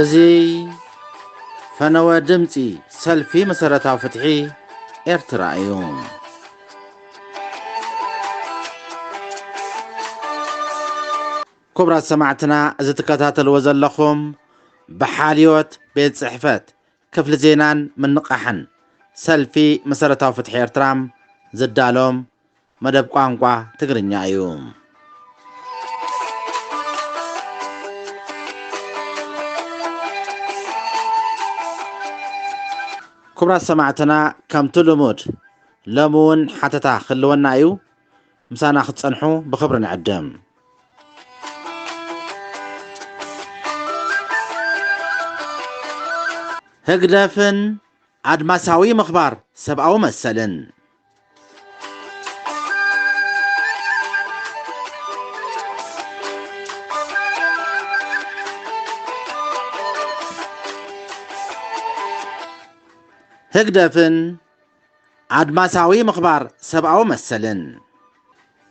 እዙይ ፈነወ ድምፂ ሰልፊ መሰረታዊ ፍትሒ ኤርትራ እዩ። ክቡራት ሰማዕትና እዚ ትከታተልዎ ዘለኹም ብሓልዮት ቤት ፅሕፈት ክፍሊ ዜናን ምንቓሕን ሰልፊ መሰረታዊ ፍትሒ ኤርትራ ዝዳሎ መደብ ቋንቋ ትግርኛ እዩ። ክቡራት ሰማዕትና ከምቲ ልሙድ ሎሚ እውን ሓተታ ክህልወና እዩ። ምሳና ክትጸንሑ ብኽብሪ ንዕድም። ህግደፍን ኣድማሳዊ ምኽባር ሰብኣዊ መሰልን። ህግደፍን ኣድማሳዊ ምኽባር ሰብኣዊ መሰልን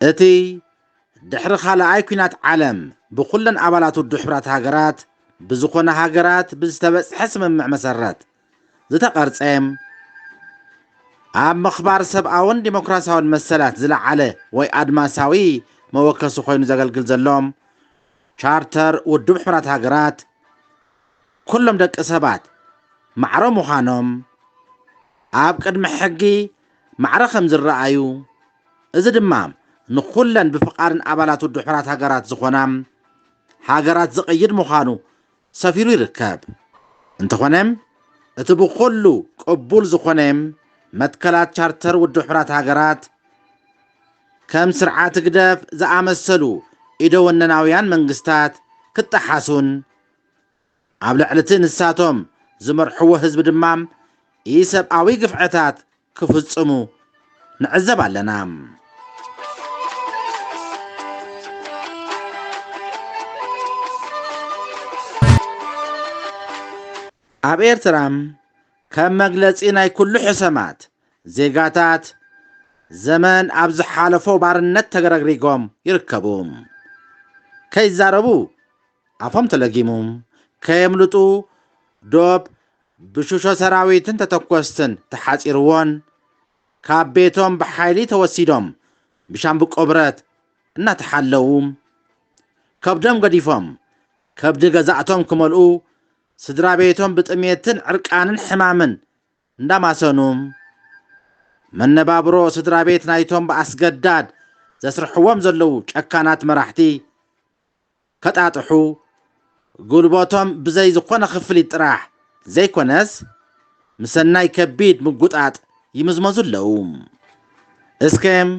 እቲ ድሕሪ ኻልኣይ ኲናት ዓለም ብኹለን ኣባላት ውድብ ሕቡራት ሃገራት ብዝኾና ሃገራት ብዝተበጽሐ ስምምዕ መሰረት ዝተቐርጸ ኣብ ምኽባር ሰብኣውን ዲሞክራሲያውን መሰላት ዝለዓለ ወይ ኣድማሳዊ መወከሲ ኮይኑ ዘገልግል ዘሎ ቻርተር ውድብ ሕቡራት ሃገራት ኩሎም ደቂ ሰባት ማዕረ ምዃኖም ኣብ ቅድሚ ሕጊ ማዕረ ከም ዝረኣዩ እዚ ድማ ንኹለን ብፍቓድን ኣባላት ውድብ ሕራት ሃገራት ዝኾና ሃገራት ዝቕይድ ምዃኑ ሰፊሩ ይርከብ። እንተኾነ እቲ ብኹሉ ቅቡል ዝኾነ መትከላት ቻርተር ውድብ ሕራት ሃገራት ከም ስርዓት ህግደፍ ዝኣመሰሉ ኢደወነናውያን መንግስታት ክጠሓሱን ኣብ ልዕሊቲ ንሳቶም ዝመርሕዎ ህዝቢ ድማ ኢሰብኣዊ ግፍዕታት ክፍፅሙ ንዕዘብ ኣለና። ኣብ ኤርትራ ከም መግለፂ ናይ ኩሉ ሕሰማት ዜጋታት ዘመን ኣብ ዝሓለፎ ባርነት ተረግሪጎም ይርከቡ። ከይዛረቡ ኣፎም ተለጊሙ ከየምልጡ ዶብ ብሽሾ ሰራዊትን ተተኮስትን ተሓፂርዎን ካብ ቤቶም ብሓይሊ ተወሲዶም ብሻምብቆ ብረት እናተሓለዉ ከብዶም ገዲፎም ከብዲ ገዛእቶም ክመልኡ ስድራቤቶም ብጥሜትን ዕርቃንን ሕማምን እንዳማሰኑ መነባብሮ ስድራቤት ናይቶም ብኣስገዳድ ዘስርሕዎም ዘለዉ ጨካናት መራሕቲ ከጣጥሑ ጉልቦቶም ብዘይ ዝኾነ ክፍሊት ጥራሕ ዘይኮነስ ምሰናይ ከቢድ ምጉጣጥ ይምዝመዙ ኣለው። እስከም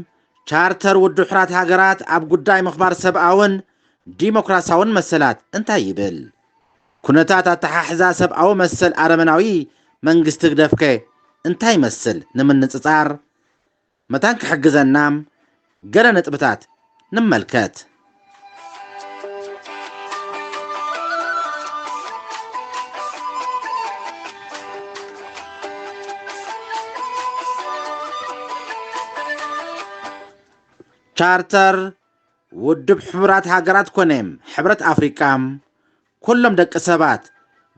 ቻርተር ውድሑራት ሃገራት ኣብ ጉዳይ ምኽባር ሰብኣውን ዲሞክራሲያውን መሰላት እንታይ ይብል? ኩነታት ኣተሓሕዛ ሰብኣዊ መሰል ኣረመናዊ መንግስቲ ህግደፍከ እንታይ ይመስል ንምንጽጻር መታን ክሕግዘና ገለ ነጥብታት ንመልከት። ቻርተር ውድብ ሕቡራት ሃገራት ኮነ ሕብረት ኣፍሪቃ ኩሎም ደቂ ሰባት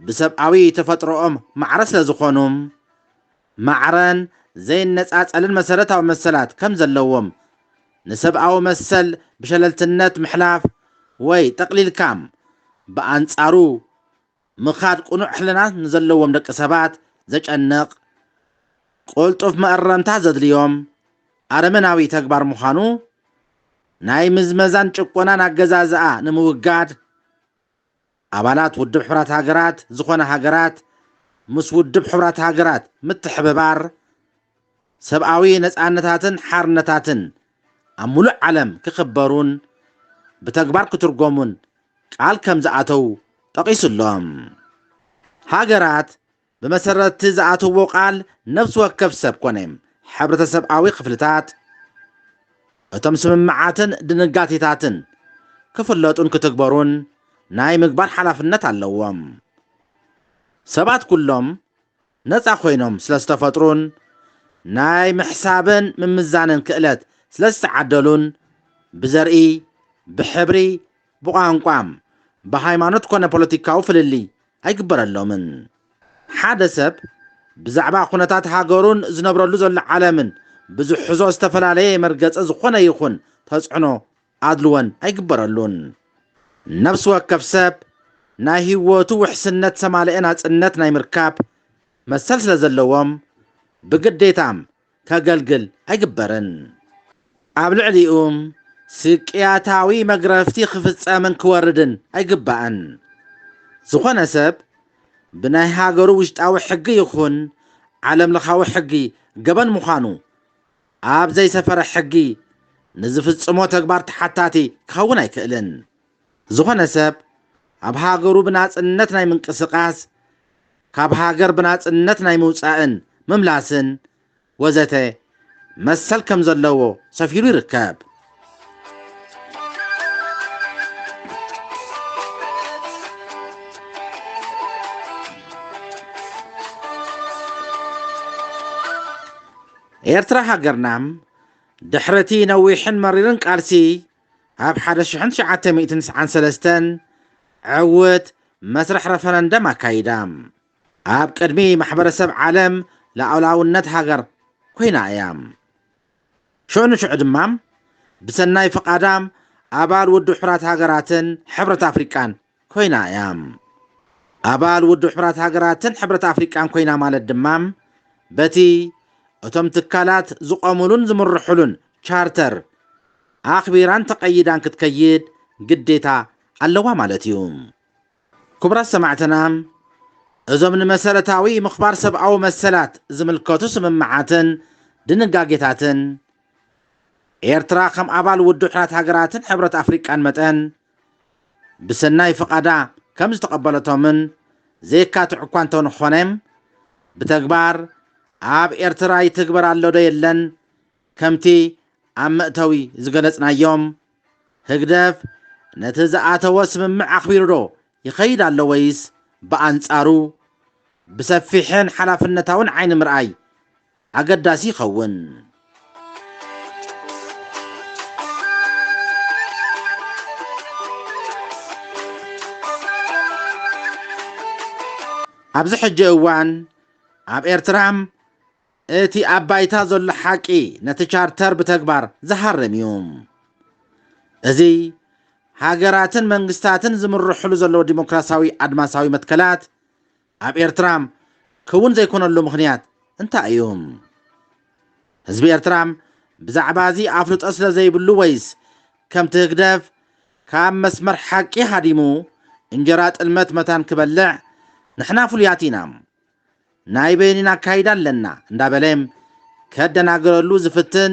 ብሰብኣዊ ተፈጥሮኦም ማዕረ ስለ ዝኾኑ ማዕረን ዘይነጻጸልን መሰረታዊ መሰላት ከም ዘለዎም፣ ንሰብኣዊ መሰል ብሸለልትነት ምሕላፍ ወይ ጠቕሊልካም ብኣንጻሩ ምኻድ ቅኑዕ ሕልና ንዘለዎም ደቂ ሰባት ዘጨንቕ፣ ቅልጡፍ መእረምታ ዘድልዮም ኣረመናዊ ተግባር ምዃኑ ናይ ምዝመዛን ጭቆናን ኣገዛዝኣ ንምውጋድ ኣባላት ውድብ ሕቡራት ሃገራት ዝኾና ሃገራት ምስ ውድብ ሕቡራት ሃገራት ምትሕብባር ሰብኣዊ ነጻነታትን ሓርነታትን ኣብ ምሉእ ዓለም ክኽበሩን ብተግባር ክትርጎሙን ቃል ከምዝኣተው ጠቒሱ'ሎ። ሃገራት ብመሰረት'ቲ ዝኣተዎ ቃል ነብሲ ወከፍ ሰብ ኮነ ሕብረተሰብኣዊ ክፍልታት እቶም ስምምዓትን ድንጋቴታትን ክፍለጡን ክትግበሩን ናይ ምግባር ሓላፍነት ኣለዎም። ሰባት ኩሎም ነጻ ኮይኖም ስለዝተፈጥሩን ናይ ምሕሳብን ምምዛንን ክእለት ስለዝተዓደሉን ብዘርኢ፣ ብሕብሪ፣ ብቋንቋ፣ ብሃይማኖት ኮነ ፖለቲካዊ ፍልልይ ኣይግበረሎምን። ሓደ ሰብ ብዛዕባ ኩነታት ሃገሩን ዝነብረሉ ዘሎ ዓለምን ብዝሕዞ ዝተፈላለየ መርገጺ ዝኾነ ይኹን ተጽዕኖ ኣድልዎን ኣይግበረሉን። ነብሲ ወከፍ ሰብ ናይ ህይወቱ ውሕስነት ሰማልኤ ናጽነት ናይ ምርካብ መሰል ስለዘለዎም ብግዴታ ከገልግል ኣይግበርን። ኣብ ልዕሊኡ ስቅያታዊ መግረፍቲ ክፍጸምን ክወርድን ኣይግባእን። ዝኾነ ሰብ ብናይ ሃገሩ ውሽጣዊ ሕጊ ይኹን ዓለምለኻዊ ሕጊ ገበን ምዃኑ ኣብ ዘይሰፈረ ሕጊ ንዝፍጽሞ ተግባር ተሓታቲ ክኸውን ኣይክእልን። ዝኾነ ሰብ ኣብ ሃገሩ ብናጽነት ናይ ምንቅስቃስ፣ ካብ ሃገር ብናጽነት ናይ ምውጻእን ምምላስን ወዘተ መሰል ከም ዘለዎ ሰፊሩ ይርከብ። ኤርትራ ሃገርና ድሕሪ እቲ ነዊሕን መሪርን ቃልሲ ኣብ ሓደ ሽሕን ትሽዓተ ሚእትን ትስዓን ሰለስተን ዕውት መስርሕ ረፈረንደም ኣካይዳ። ኣብ ቅድሚ ማሕበረሰብ ዓለም ሉኣላውነት ሃገር ኮይና እያ። ሽዑ ንሽዑ ድማ ብሰናይ ፍቓዳ ኣባል ውድብ ሕቡራት ሃገራትን ሕብረት ኣፍሪቃን ኮይና እያ። ኣባል ውድብ ሕቡራት ሃገራትን ሕብረት ኣፍሪቃን ኮይና ማለት ድማ በቲ እቶም ትካላት ዝቖሙሉን ዝምርሑሉን ቻርተር ኣኽቢራን ተቐይዳን ክትከይድ ግዴታ ኣለዋ ማለት እዩ። ክቡራት ሰማዕትና እዞም ንመሰረታዊ ምኽባር ሰብኣዊ መሰላት ዝምልከቱ ስምምዓትን ድንጋጌታትን ኤርትራ ከም ኣባል ውድብ ሕራት ሃገራትን ሕብረት ኣፍሪቃን መጠን ብሰናይ ፍቓዳ ከም ዝተቐበለቶምን ዘየካትዕ እኳ እንተንኾነ፣ ብተግባር ኣብ ኤርትራ ይትግበር ኣሎዶ የለን ከምቲ ኣብ መእተዊ ዝገለጽናዮ፣ ህግደፍ ነቲ ዝኣተዎ ስምምዕ ኣኽቢሩዶ ይኸይድ ኣሎ ወይስ ብኣንጻሩ ብሰፊሕን ሓላፍነታውን ዓይኒ ምርኣይ ኣገዳሲ ይኸውን። ኣብዚ ሕጂ እዋን ኣብ ኤርትራ እቲ ኣብ ባይታ ዘሎ ሓቂ ነቲ ቻርተር ብተግባር ዝሃርም እዩ። እዚ ሃገራትን መንግስታትን ዝምርሕሉ ዘለዉ ዲሞክራሲያዊ ኣድማሳዊ መትከላት፣ ኣብ ኤርትራ ክውን ዘይኮነሉ ምኽንያት እንታይ እዩ? ህዝቢ ኤርትራ ብዛዕባ እዚ ኣፍልጦ ስለ ዘይብሉ ወይስ ከምቲ ህግደፍ ካብ መስመር ሓቂ ሃዲሙ እንጀራ ጥልመት መታን ክበልዕ ንሕና ፍሉያት ኢና ናይ በይኒና ኣካይዳ ኣለና እንዳበለ ከደናግረሉ ዝፍትን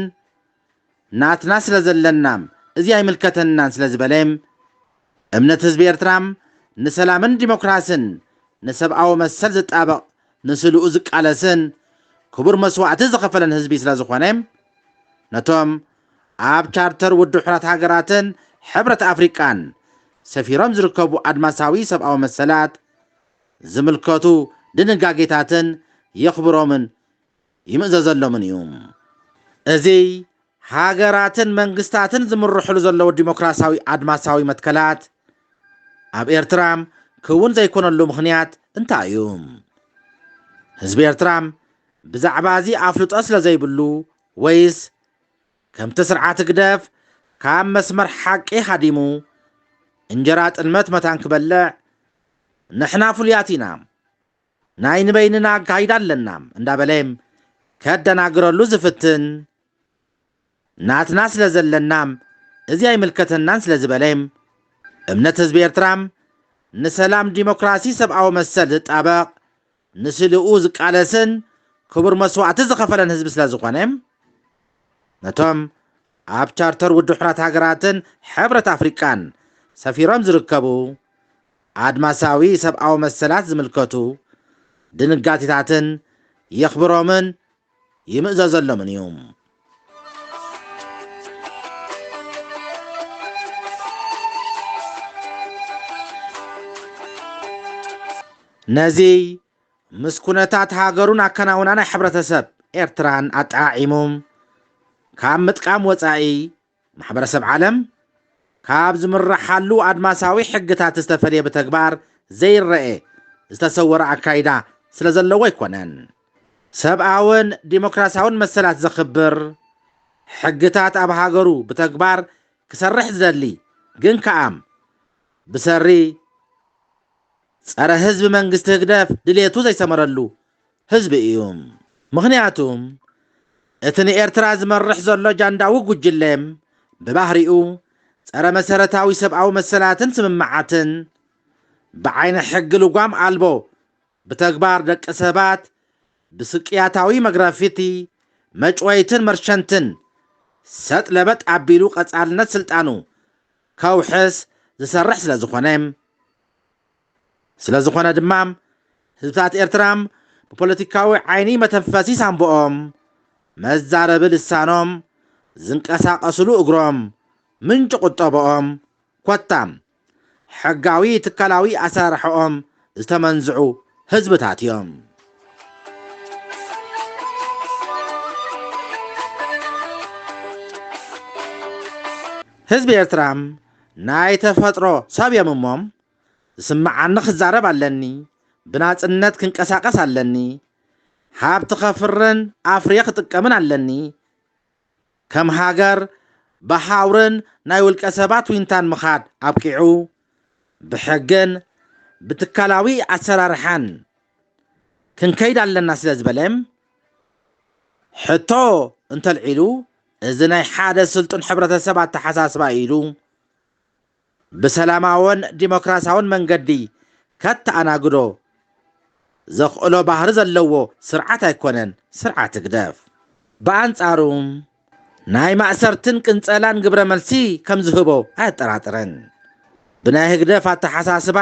ናትና ስለ ዘለና እዚ ኣይምልከተናን ስለ ዝበለ፣ እምነት ህዝቢ ኤርትራ ንሰላምን ዲሞክራስን ንሰብኣዊ መሰል ዝጣበቕ ንስልኡ ዝቃለስን ክቡር መስዋእቲ ዝኸፈለን ህዝቢ ስለ ዝኾነ፣ ነቶም ኣብ ቻርተር ውድብ ሕራት ሃገራትን ሕብረት ኣፍሪቃን ሰፊሮም ዝርከቡ ኣድማሳዊ ሰብኣዊ መሰላት ዝምልከቱ ድንጋጌታትን የኽብሮምን ይምእዘዘሎምን እዩ። እዚ ሃገራትን መንግስታትን ዝምርሑሉ ዘለዉ ዲሞክራሲያዊ ኣድማሳዊ መትከላት ኣብ ኤርትራ ክውን ዘይኮነሉ ምኽንያት እንታይ እዩ? ህዝቢ ኤርትራ ብዛዕባ እዚ ኣፍልጦ ስለ ዘይብሉ ወይስ ከምቲ ስርዓት ህግደፍ ካብ መስመር ሓቂ ሃዲሙ እንጀራ ጥልመት መታን ክበልዕ ንሕና ፍሉያት ኢና፣ ናይ ንበይንና ኣካይዳ ኣለና እንዳበለ ከደናግረሉ ዝፍትን ናትና ስለ ዘለና እዚ ኣይምልከተናን ስለ ዝበለ እምነት ህዝቢ ኤርትራ ንሰላም ዲሞክራሲ ሰብኣዊ መሰል ዝጣበቕ ንስልኡ ዝቃለስን ክቡር መስዋእቲ ዝኸፈለን ህዝቢ ስለ ዝኾነ ነቶም ኣብ ቻርተር ውድብ ሕራት ሃገራትን ሕብረት ኣፍሪቃን ሰፊሮም ዝርከቡ ኣድማሳዊ ሰብኣዊ መሰላት ዝምልከቱ ድንጋቴታትን የኽብሮምን ይምእዘዘሎምን እዩ። ነዚ ምስ ኩነታት ሃገሩን ኣከናውና ናይ ሕብረተሰብ ኤርትራን ኣጠዓዒሙ ካብ ምጥቃም ወጻኢ ማሕበረሰብ ዓለም ካብ ዝምረሓሉ ኣድማሳዊ ሕግታት ዝተፈልየ ብተግባር ዘይረኤ ዝተሰወረ ኣካይዳ ስለ ዘለዎ ኣይኮነን። ሰብኣውን ዲሞክራሲያውን መሰላት ዘኽብር ሕግታት ኣብ ሃገሩ ብተግባር ክሰርሕ ዝደሊ ግን ከኣም ብሰሪ ጸረ ህዝቢ መንግስቲ ህግደፍ ድሌቱ ዘይሰመረሉ ህዝቢ እዩ ምኽንያቱ እቲ ንኤርትራ ዝመርሕ ዘሎ ጃንዳዊ ጉጅለ ብባህሪኡ ጸረ መሰረታዊ ሰብኣዊ መሰላትን ስምምዓትን ብዓይነ ሕጊ ልጓም ኣልቦ ብተግባር ደቂ ሰባት ብስቅያታዊ መግረፊቲ መጭወይትን መርሸንትን ሰጥ ለበጥ ኣቢሉ ቀጻልነት ስልጣኑ ከውሕስ ዝሰርሕ ስለዝኾነ ስለዝኾነ ድማ ህዝብታት ኤርትራ ብፖለቲካዊ ዓይኒ መተንፈሲ ሳንቡኦም፣ መዛረቢ ልሳኖም፣ ዝንቀሳቐስሉ እግሮም፣ ምንጪ ቁጠበኦም፣ ኮታ ሕጋዊ ትካላዊ ኣሰራርሓኦም ዝተመንዝዑ ህዝብታት እዮም። ህዝቢ ኤርትራ ናይ ተፈጥሮ ሰብ እዮም እሞ ዝስምዓኒ ክዛረብ ኣለኒ፣ ብናጽነት ክንቀሳቀስ ኣለኒ፣ ሃብቲ ከፍርን ኣፍርየ ክጥቀምን ኣለኒ፣ ከም ሃገር ብሃውርን ናይ ውልቀ ሰባት ዊንታን ምኻድ ኣብቂዑ፣ ብሕግን ብትካላዊ ኣሰራርሓን ክንከይድ ኣለና ስለ ዝበለም ሕቶ እንተልዒሉ እዚ ናይ ሓደ ስልጡን ሕብረተሰብ ኣተሓሳስባ ኢዩ ኢሉ። ብሰላማዎን ዲሞክራሲያውን መንገዲ ከተኣናግዶ ዘኽእሎ ባህሪ ዘለዎ ስርዓት ኣይኮነን ስርዓት ህግደፍ። ብኣንጻሩ ናይ ማእሰርትን ቅንጸላን ግብረመልሲ ከም ዝህቦ ኣየጠራጥርን። ብናይ ህግደፍ ኣተሓሳስባ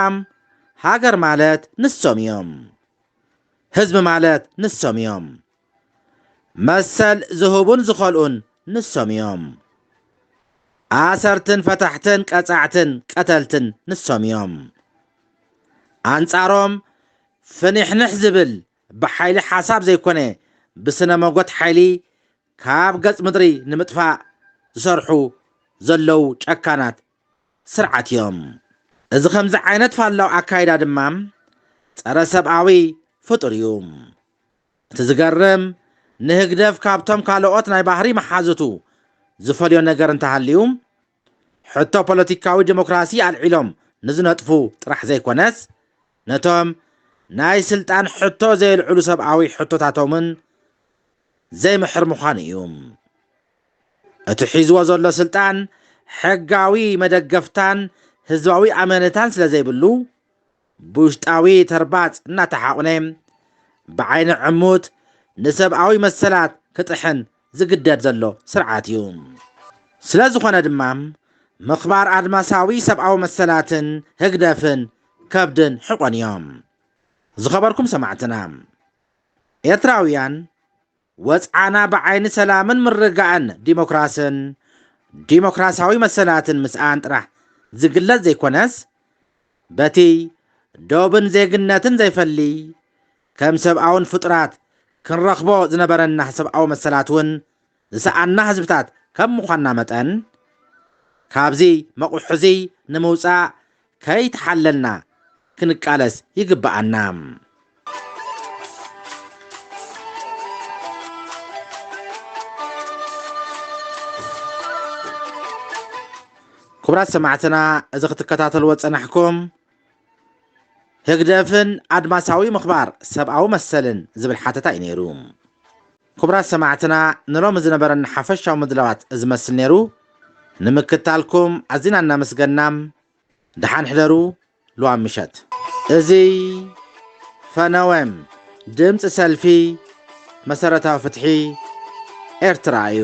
ሃገር ማለት ንሶም እዮም። ህዝቢ ማለት ንሶም እዮም። መሰል ዝህቡን ዝኸልኡን ንሶም እዮም። ኣሰርትን ፈታሕትን ቀጻዕትን ቀተልትን ንሶም እዮም። ኣንጻሮም ፍኒሕንሕ ዝብል ብሓይሊ ሓሳብ ዘይኮነ ብስነ መጎት ሓይሊ ካብ ገጽ ምድሪ ንምጥፋእ ዝሰርሑ ዘለዉ ጨካናት ስርዓት እዮም። እዚ ከምዚ ዓይነት ፋላው ኣካይዳ ድማ ጸረ ሰብኣዊ ፍጡር እዩ። እቲ ዝገርም ንህግደፍ ካብቶም ካለኦት ናይ ባህሪ መሓዙቱ ዝፈልዮ ነገር እንተሃልዩ ሕቶ ፖለቲካዊ ደሞክራሲ ኣልዒሎም ንዝነጥፉ ጥራሕ ዘይኮነስ ነቶም ናይ ስልጣን ሕቶ ዘየልዕሉ ሰብኣዊ ሕቶታቶምን ዘይምሕር ምዃኑ እዩ። እቲ ሒዝዎ ዘሎ ስልጣን ሕጋዊ መደገፍታን ህዝባዊ ኣመነታን ስለዘይብሉ ብውሽጣዊ ተርባጽ እናተሓቑነ ብዓይኒ ዕሙት ንሰብኣዊ መሰላት ክጥሕን ዝግደድ ዘሎ ስርዓት እዩ። ስለ ዝኾነ ድማ ምኽባር ኣድማሳዊ ሰብኣዊ መሰላትን ህግደፍን ከብድን ሕቖን እዮም። ዝኸበርኩም ሰማዕትና ኤርትራውያን ወጽዓና ብዓይኒ ሰላምን ምርግጋእን ዲሞክራስን ዲሞክራስያዊ መሰላትን ምስኣን ጥራሕ ዝግለጽ ዘይኮነስ፣ በቲ ዶብን ዜግነትን ዘይፈሊ ከም ሰብኣውን ፍጡራት ክንረኽቦ ዝነበረና ሰብኣዊ መሰላት እውን ዝሰኣና ህዝብታት ከም ምዃንና መጠን፣ ካብዚ መቝሕ'ዚ ንምውጻእ ከይተሓለልና ክንቃለስ ይግበኣና። ክቡራት ሰማዕትና እዚ ክትከታተልዎ ዝጸናሕኩም ህግደፍን ኣድማሳዊ ምኽባር ሰብኣዊ መሰልን ዝብል ሓተታ እዩ ነይሩ። ኩቡራት ሰማዕትና ንሎሚ ዝነበረና ሓፈሻዊ ምድላዋት እዚ መስል ነይሩ ንምክታልኩም ኣዚና እናመስገና ደሓን ሕደሩ ልዋም ምሸት እዚ ፈነወም ድምፂ ሰልፊ መሰረታዊ ፍትሒ ኤርትራ እዩ።